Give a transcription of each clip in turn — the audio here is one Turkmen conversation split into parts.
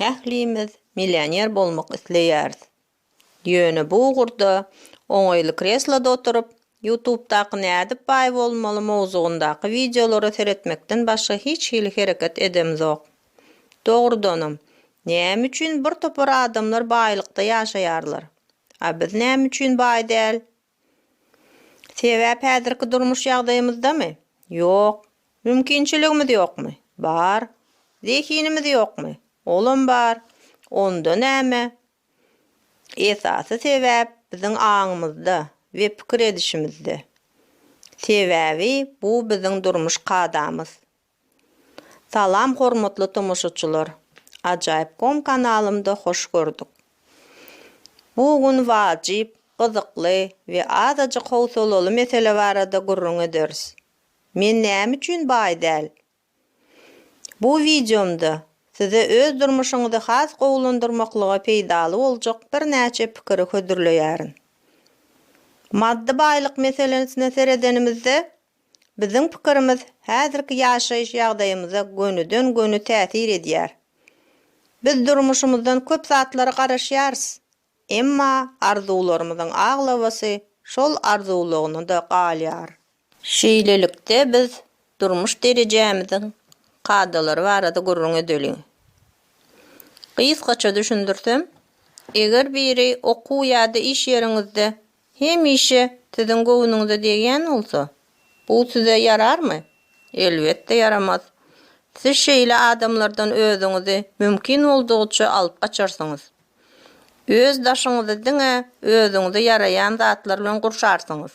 Ählimiz millioner bolmak isleýäris. Ýöne bu ugurda oňaýly kresloda oturyp, Ýutubdaky Nädip baý bolmaly mowzugyndaky wideolara seretmekden başga hiç hili hereket edemzok. Dogrudanam, näme üçin bir topar adamlar baýlykda ýaşaýarlar, a biz näme üçin baý däl? Sebäp häzirki durmuş ýagdaýymyzdamy? Ýok. Mümkinçiligimiz ýokmy? Bar. Zehinimiz ýokmy? Olam bar. Onda näme? Esasy sebäp biziň aňymyzda we pikir edişimizde. Sebäbi bu biziň durmuş kadamyz. Salam hormatly tomaşaçylar Ajaýyp kom kanalymda hoş gördük. Bu gün wajyp, gyzykly we azajyk howsalaly mesele barada gürrüň ederis. Men näme üçin baý däl? Bu wideomda size öz durmuşyňyzy has gowulandyrmaklyga peýdaly boljak birnäçe pikiri hödürleýärin. Maddy baýlyk meselesine seredenimizde Biziň pikirimiz häzirki ýaşaýyş ýagdaýymyza gönüden-göni täsir edýär. Biz durmuşymyzdan köp zatlara garaşýarys, emma arzuwlarymyzyň aglabasy şol arzuwlygyna-da galýar. Şeýlelikde biz durmuş derejämiziň kadalary barada gürrüň edeliň. Gysgaça düşündirsem, eger biri okuw ýa-da iş ýeriňizde hemişe siziň göwnüňize degýän bolsa, bu size ýararmy? Elbetde ýaramaz. Siz şeýle adamlardan özüňizi mümkin boldugyça alyp gaçarsyňyz. Öz daşyňyzy diňe özüňize ýaraýan zatlar bilen gurşarsyňyz.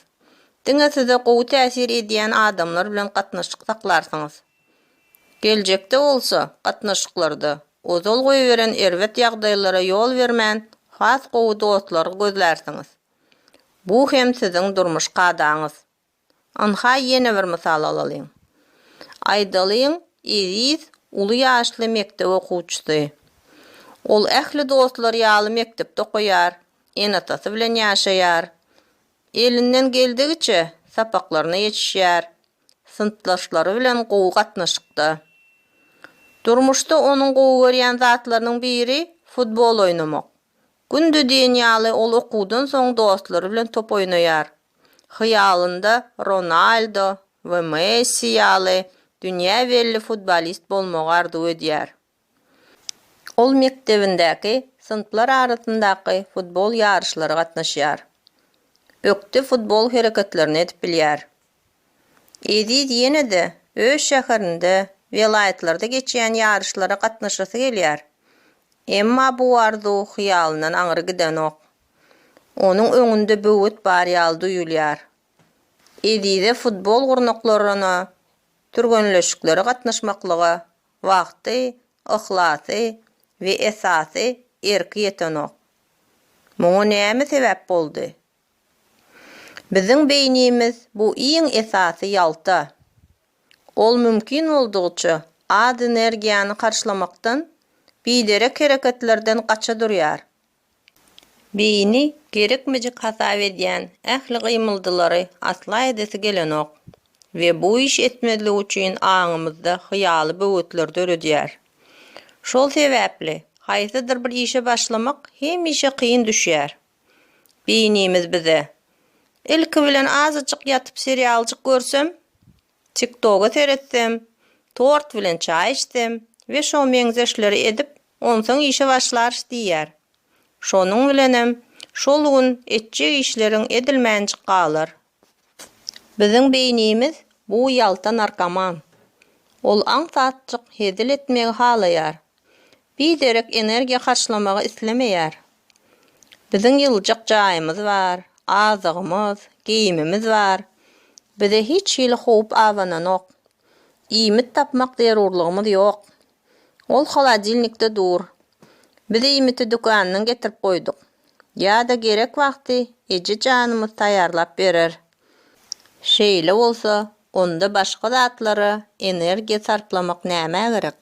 Diňe size gowy täsir edýän adamlar bilen gatnaşyk saklarsyňyz. Geljekde bolsa, gatnaşyklarda ozal goýberen erbet ýagdaýlara ýol bermän, has gowy dostlary gözlärsiňiz. Bu hem siziň durmuş kadaňyz. Ynha ýene bir mysal alalyň. Aýdalyň, Eziz uly ýaşly mekdep okuwçysy. Ol ähli dostlary ýaly mekdepde okaýar, ene-atasy bilen ýaşaýar. Elinden geldigiçe sapaklaryna ýetişýär, synpdaşlary bilen gowy gatnaşykda. Durmuşda onuň gowy görýän zatlarynyň biri futbol oýnamak. Günde diýen ýaly ol okuwdan soň dostlary bilen top oýnaýar. Hyýalynda Ronaldo we Messi ýaly dünýä belli futbolist bolmagy arzuw edýär. Ol mekdebindäki synplar arasyndaky futbol ýaryşlara gatnaşýar. Ökde futbol hereketlerini edip bilýär. Eziz ýene-de öz şäherinde, welaýatlarda geçýän ýaryşlara gatnaşasy gelýär. Emma bu arzuw hyýalyndan aňry gidenok. Onuň öňünde böwet bar ýaly duýulýar. Ezize futbol gurnaklaryna, türgenleşiklere gatnaşmaklyga wagty, yhlasy we esasy erki ýetenok. Muňa näme sebäp boldy? Biziň beýnimiz bu iň esasy ýalta. Ol mümkin boldugyça az energiýany harçlamakdan, biderek hereketlerden gaça durýar. Beýni gerekmejek hasap edýän ähli gymyldylary asla edesi gelenok we bu iş etmezlik üçin aňymyzda hyýaly böwetler döredýär. Şol sebäpli haýsydyr bir işe başlamak hemişe kyn düşýär. Beýnimiz bize, Ilki bilen azajyk ýatyp serialjyk görsem, Tiktoga seretsem, tort bilen çaý içsem we şo meňzeşleri edip, onsoň işe başlarys diýýär. Şonuň bilenem, şol gün etjek işleriň edilmänjik galar. Biziň beýnimiz bu ýalta narkoman. Ol aňsatjyk hezil etmegi halaýar. Biderek energiýa harçlamagy islemeýär. Biziň ýyljak jaýymyz bar, azygymyz, geýimimiz bar. Bize hiç hili howp abananok. Iýmit tapmak zerurlygymyz ýok. Ol holodilnikde dur. Biz iýmiti dükandan getirip goýduk. Ýa-da gerek wagty eje janymyz taýýarlap berer. Şeýle bolsa, onda başga zatlara energiýa sarplamak nämä gerek?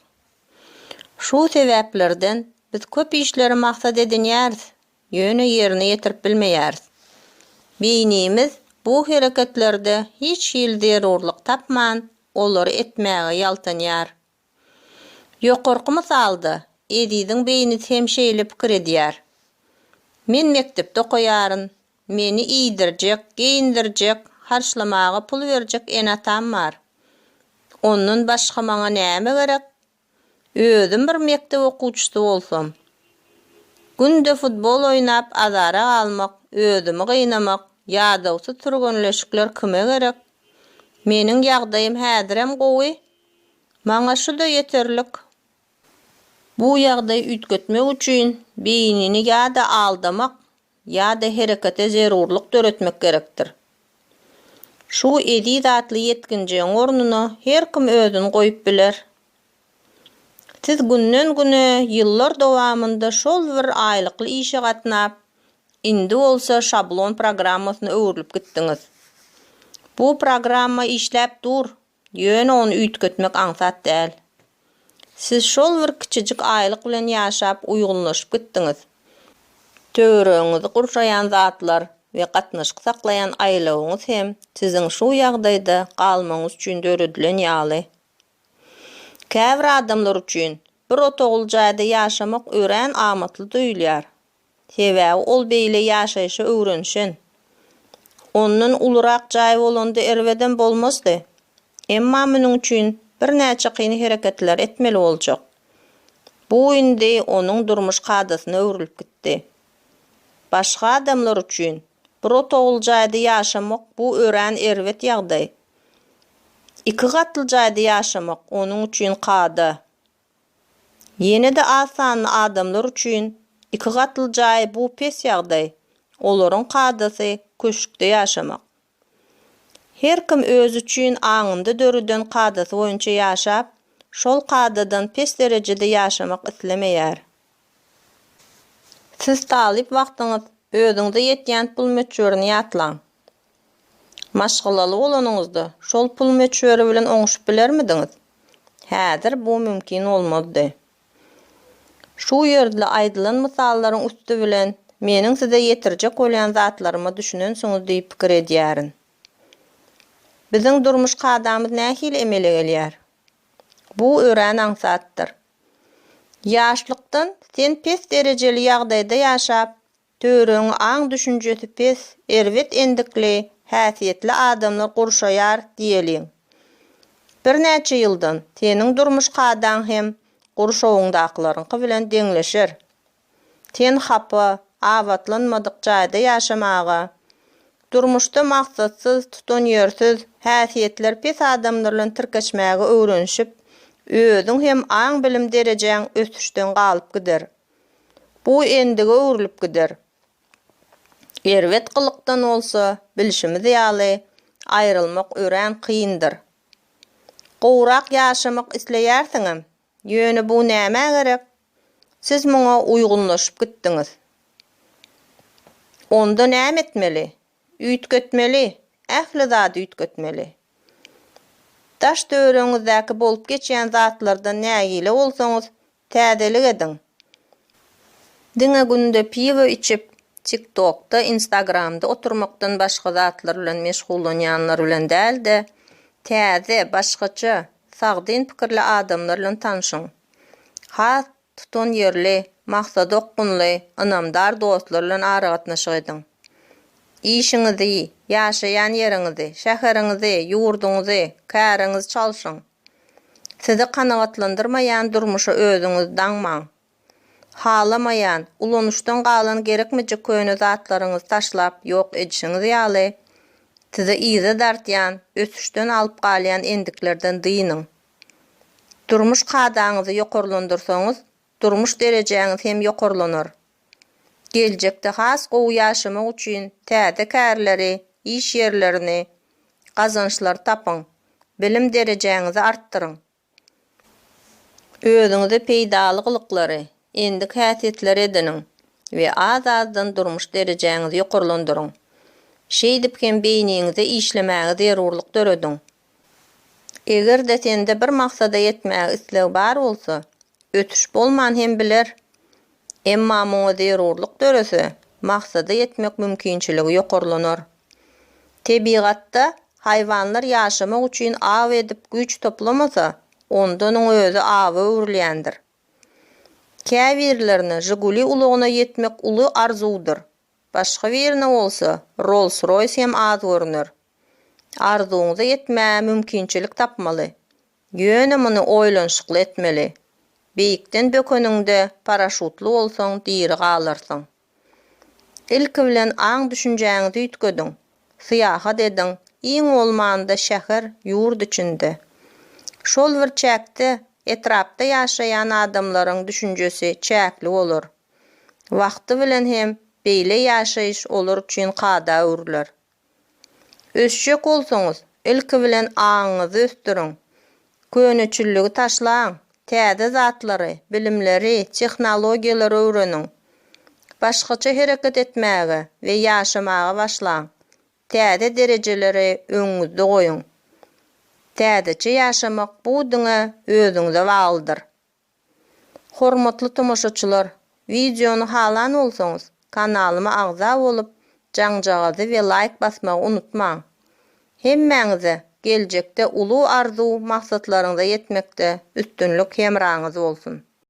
Şu sebäplerden biz köp işleri maksat edinýäris, ýöne ýerine ýetirip bilmeýäris. Beýnimiz bu hereketlerde hiç hili zerurlyk tapman, olary etmäge ýaltanýar. Ýokarky mysalda Eziziň beýnisi hem şeýle pikir edýär. Men mekdepde okaýaryn, Meni iýdirjek, geýindirjek, harçlamaga pul berjek ene-atam bar. Ondan başga maňa näme gerek? Özüm bir mekdep okuwçysy bolsam. Günde futbol oýnap azara galmak, özümi gynamak, ýadawsyz türgenleşikler kime gerek? Meniň ýagdaýym häzirem gowy. Maňa şu-da ýeterlik. Bu ýagdaýy üýtgetmek üçin beýnini ýa-da aldamak, ýa-da herekete zerurlyk döretmek gerekdir. Şu eziz atly ýetginjegiň ornuna her kim özüni goýup biler. Siz günden-güne, ýyllar dowamynda şol bir aýlykly işe gatnap, indi bolsa şablon programmasyna öwrülip gitdiňiz. Bu programma işläp dur, Ýöne ony üýtgetmek aňsat däl. Siz şol bir kiçijik aýlyk bilen ýaşap uýgunlaşyp gitdiňiz. Töweregiňizi gurşaýan zatlar we gatnaşyk saklaýan aýlawyňyz hem siziň şu ýagdaýda galmagyňyz üçin döredilen ýaly. Käbir adamlar üçin bir otagly jaýda ýaşamak örän amatly duýulýar, Sebäbi ol beýle ýaşaýşa öwrenişen. Ondan ulurak jaý bolanda erbedem bolmazdy. Emma munuň üçin birnäçe kyn hereketler etmeli boljak. Bu indi onuň durmuş kadasyna öwrülip gitdi. Başga adamlar üçin bir otagly jaýda ýaşamak bu örän erbet ýagdaý. Iki gatly jaýda ýaşamak onuň üçin kada. Ýene-de az sanly adamlar üçin iki gatly jaý bu pes ýagdaý, olaryň kadasy köşkde ýaşamak. Her kim özi üçin aňynda döreden kadasy boýunça ýaşap, şol kadadan pes derejede ýaşamak islemeýär. Siz talyp wagtyňyz özüňize ýetýän pul möçberini ýatlaň. Maşgalaly bolanyňyzda, şol pul möçberi bilen oňuşyp bilermidiňiz? Häzir bu mümkin bolmazdy. Şu ýerde aýdylan mysallaryň üsti bilen meniň size ýetirjek bolýan zatlaryma düşünensiňiz diýip pikir edýärin. Biziň durmuş kadamyz nähili emele gelýär? Bu örän aňsatdyr. Ýaşlykdan sen pes derejeli ýagdaýda ýaşap, Töweregiňi aň-düşünjesi pes, erbet endikli, häsiýetli adamlar gurşaýar diýeliň. Birnäçe ýyldan seniň durmuş kadaň hem gurşawyňdakylaryňky bilen deňleşer. Sen hapa, abatlanmadyk jaýda ýaşamaga, durmuşda maksatsyz, tutanýersiz, häsiýetleri pes adamlar bilen tirkeşmäge öwrenişip, özüň hem aň-bilim derejäň ösüşden galyp gider. Bu endige öwrülip gider. Erbet gylykdan bolsa, bilşimiz ýaly, aýrylmak örän kyndyr. Gowrak ýaşamak isleýärsiňem, ýöne bu nämä gerek? Siz muňa uýgunlaşyp gitdiňiz. Onda näme etmeli? Üýtgetmeli, ähli zady üýtgetmeli. Daş-töweregiňizdäki bolup geçýän zatlardan nägile bolsaňyz, Täzelik ediň. Diňe günde piwo içip, tik tokda, instagramda oturmakdan başga zatlar bilen meşgullanýanlar bilen däl-de, täze, başgaça, sagdyn pikirli adamlar bilen tanşyň. Has tutanýerli, maksada okgunly, ynamdar dostlar bilen aragatnaşyk ediň. Işiňizi, ýaşaýan ýeriňizi, şäheriňizi, ýurduňyzy, käriňizi çalşyň. Sizi kanagatlandyrmaýan durmuşa özüňiz daňmaň. Halamaýan, ulanyşdan galan gerekmejek köne zatlaryňyzy taşlap ýok edişiňiz ýaly, sizi yza dartýan, ösüşden alyp galýan endiklerden dynyň. Durmuş kadaňyzy ýokarlandyrsaňyz, Durmuş derejäňiz hem ýokarlanar. Geljekde has gowy ýaşamak üçin täze kärleri, iş ýerlerini, gazançlary tapyň. Bilim derejäňizi artdyryň. Özüňize peýdaly gylyklary, endik häsiýetleri ediniň we az-azdan durmuş derejäňizi ýokarlandyryň. Şeýdip hem beýniňize işlemäge zerurlyk dörediň. Eger-de sende bir maksada ýetmäge isleg bar bolsa, ötüş bolman hem biler. Emma muňa zerurlyk dörese, maksada ýetmek mümkinçiligi ýokarlanar. Tebigatda haýwanlar ýaşamak üçin aw edip güýç toplamasa, onda onuň özi awa öwrülýändir. Käbirlerine Žiguli ulagyna ýetmek uly arzuwdyr. Başga birine bolsa Rolls-Royce hem az görüner. Arzuwyňyza ýetmäge mümkinçilik tapmaly. Ýöne muny oýlanyşykly etmeli. Beýikden bökeniňde paraşutly bolsaň diri galarsyň. Ilki bilen aň-düşünjäňizi üýtgediň. Syýahat ediň, iň bolmanda şäher, ýurt içinde. Şol bir çäkde, etrapda ýaşaýan adamlaryň düşünjesi çäkli bolar. Wagty bilen hem beýle ýaşaýyş olar üçin kada öwrüler. Ösjek bolsaňyz, ilki bilen aňyňyzy ösdüriň. Köneçilligi taşlaň, täze zatlary, bilimleri, tehnologiýalary öwreniň. Başgaça hereket etmäge we ýaşamaga başlaň. Täze derejeleri öňüňizde goýuň. Täzeçe ýaşamak bu diňe özüňize baglydyr. Hormatly tomaşaçylar, wideony halan bolsaňyz, kanalyma agza bolup, jaňjagazy we laýk basmagy unutmaň! Hemmäňize geljekde uly arzuw maksatlaryňyza ýetmekde üstünlik hemraňyz bolsun!